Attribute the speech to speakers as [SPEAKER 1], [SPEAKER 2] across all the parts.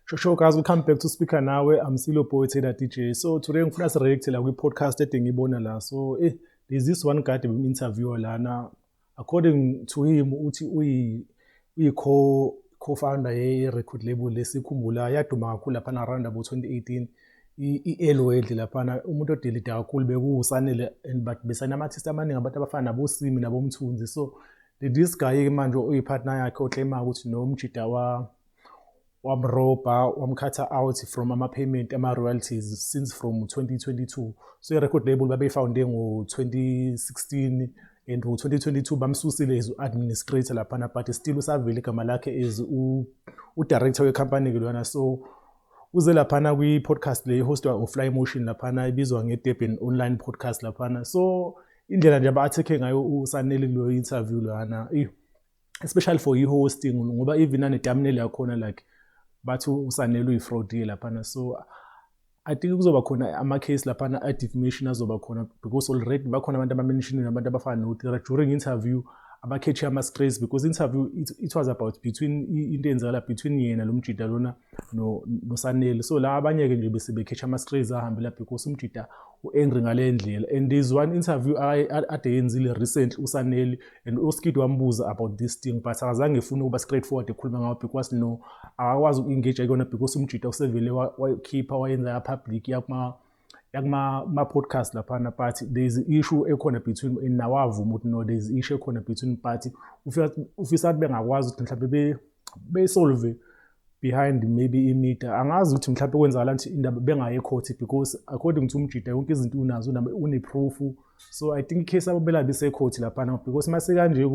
[SPEAKER 1] Sure, sure, guys, we'll come back to speaker nawe. I'm Silo Boy Taylor DJ. So today ngifuna si react la kwi podcast edingibona la. So eh there's this one guy we interview lana According to him uthi uyi uyi co co-founder ye record label lesikhumbula yaduma kakhulu lapha na around about 2018 i-elwedle laphana umuntu odelida kakhulu bekuwusanele and but besanamathisti amaningi abantu abafana nabosimi nabomthunzi so this guy-ke manje oyipartner yakhe oclaimayo ukuthi nomjida wamrobha wamkhatha out from ama-payment ama-royalties since from 2022 so i-record label babeyifounde ngo-2016 and ngo-2022 bamsusile as u-administrator laphana but still usavele igama lakhe as udirector wecompany-ke lona so uze laphana kwi-podcast le ihostwa ufly motion laphana ibizwa ngedurban online podcast laphana so indlela nje aba-athekhe ngayo usanele kuleyo interview lana especially for i-hosting ngoba even anetamneli yakhona like bathi usanele uyi-fraudile laphana so i think kuzoba khona ama-case laphana a-defamation azoba khona because already bakhona abantu abamenishiniwe abantu abafana notira during interview abakhetshe ama-strays because interview it, it was about between into eyenzakala between yena lo mjida lona nosanele no so la abanye-ke nje bese bekhetsha ama-strays ahambe la because umjida u-angry ngale ndlela and there's one interview ade yenzile recently usanele and uskid wambuza about this thing but akazange efune ukuba straight forward ekhuluma ngawo because no akakwazi uku-engage kuyona because umjita usevele wayikhipha wayenza yapublic yakuma yakuma-podcast laphana but there is issue ekhona between nawavuma ukuthi no there is issue ekhona between but ufisa ukuthi bengakwazi ukuthi mhlawumbe besolve behind maybe imida angazi ukuthi mhlawumbe kwenzakala ukuthi indaba bengaye ekhothi because according to umjida yonke izinto unazo une-proof so i think icase abo belabe isekhothi laphana because uma sekanje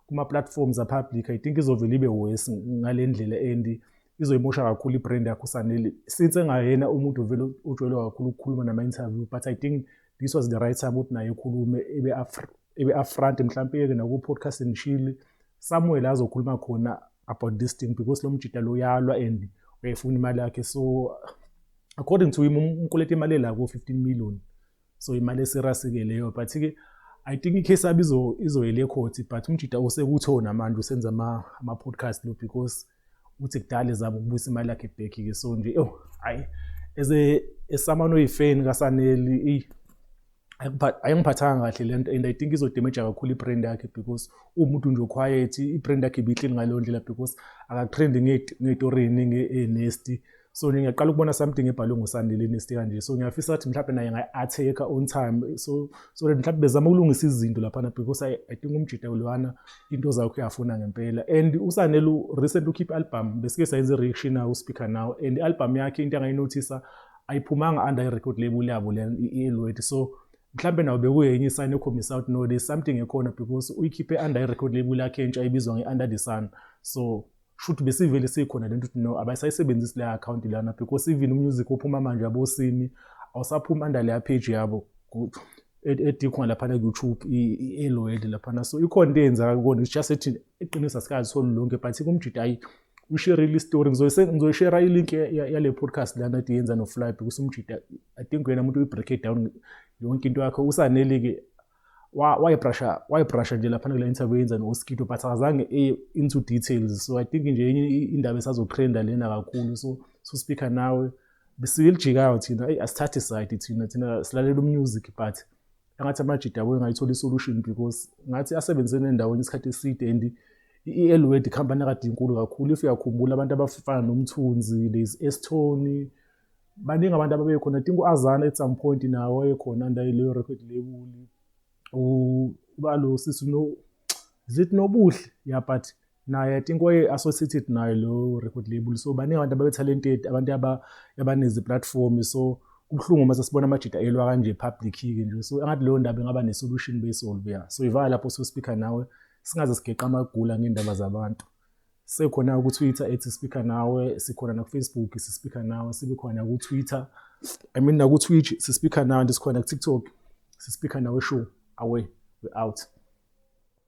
[SPEAKER 1] kuma-platforms apublic i think izovele ibe worse ngale ndlela and izoyimosha kakhulu i-brand yakho usanele since engayena umuntu vele ujwayelwa kakhulu ukukhuluma nama-interview but i think this was the right time ukuthi naye ekhulume ebe-afront mhlawumpe yeke naku-podcast and shile somewhere la azokhuluma khona about this thing because lo mjita lo uyalwa and uyayifuna imali yakhe so according to him umkoleta imali la ko 15 million so imali esirasike leyo but ke i think icase abi izo izoyele court but umjita usekuthona namanje usenza ama ama podcast lo because uthi kudala ezama ukubuyisa imali yakhe back ke so nje oh hayi as a esamano yifeni kasaneli ayingiphathanga kahle le nto and i think izodemeja kakhulu i-brand yakhe because uwumuntu nje oquiet i-brand yakhe ibihleli ngaleyo ndlela because akatrend ngey'tori ey'ningi eynesti so nje ngiyaqala ukubona something ebhalwe ngosandile enesti kanje so ngiyafisa ukuthi mhlawumbe naye ngayi-atheka on time so so that mhlawumbe bezama ukulungisa izinto laphana because i, I think umjita lwana into zakho uyafuna ngempela and usanele recent ukhiphe i-album besike sayenza i-reaction nawo uspeaker nawo and i-album yakhe into angayinothisa ayiphumanga under i-record label yabo le i-eluet so mhlawumbe nawo bekuye enye isayini ekhombisa ukuthi no there's something ekhona because uyikhiphe under i-record label yakhe entsha ebizwa nge-under the sun so shuthi besivele sikhona lento ukuthi no abayisayisebenzisi le account lana because even umusic ophuma manje abosimi awusaphumi under leya page yabo edikhona laphana ku-youtube i-eloed laphana so ikhona into eyenzaka kona it's just ethi iqiniso asikazi solu lonke but kumjita ayi usherile istory ngizoyishera ilink yale podcast lana ti yenza noflybe kusumjida i think wena muntu uyi-break it down yonke into yakho usaneli-ke wayibrasha wayibrasha nje laphana kule interview yenza no-oskito but akazange eye into details so i think nje enye indaba esazotrenda lena kakhulu so so speaker nawe besilijikayo thina eyi asithathi side thina thina silalela umusic but angathi amajida abuye ngayithola isolution because ngathi asebenze nendaweni isikhathi eside and i-elwed ikhampani akade inkulu kakhulu if uyakhumbula abantu abafana nomthunzi lezi estony baningi abantu ababekhona i think u-azana at some point nawo wayekhona under leyo record label ubalo sisi no is it nobuhle ya but naye i think waye associated nayo lo record label so baningi abantu ababe talented abantu aba abanezi platform so kubuhlungu uma sesibona amajita elwa kanje public ke nje so angathi leyo ndaba ingaba ne solution be solve ya so ivala lapho so speaker nawe singaze sigeqa amagula ngendaba zabantu sekhona ku Twitter ethi speaker nawe sikhona na ku Facebook si speaker nawe sibe khona ku Twitter i mean na ku Twitch si speaker nawe ndisikhona ku TikTok si speaker nawe show away we out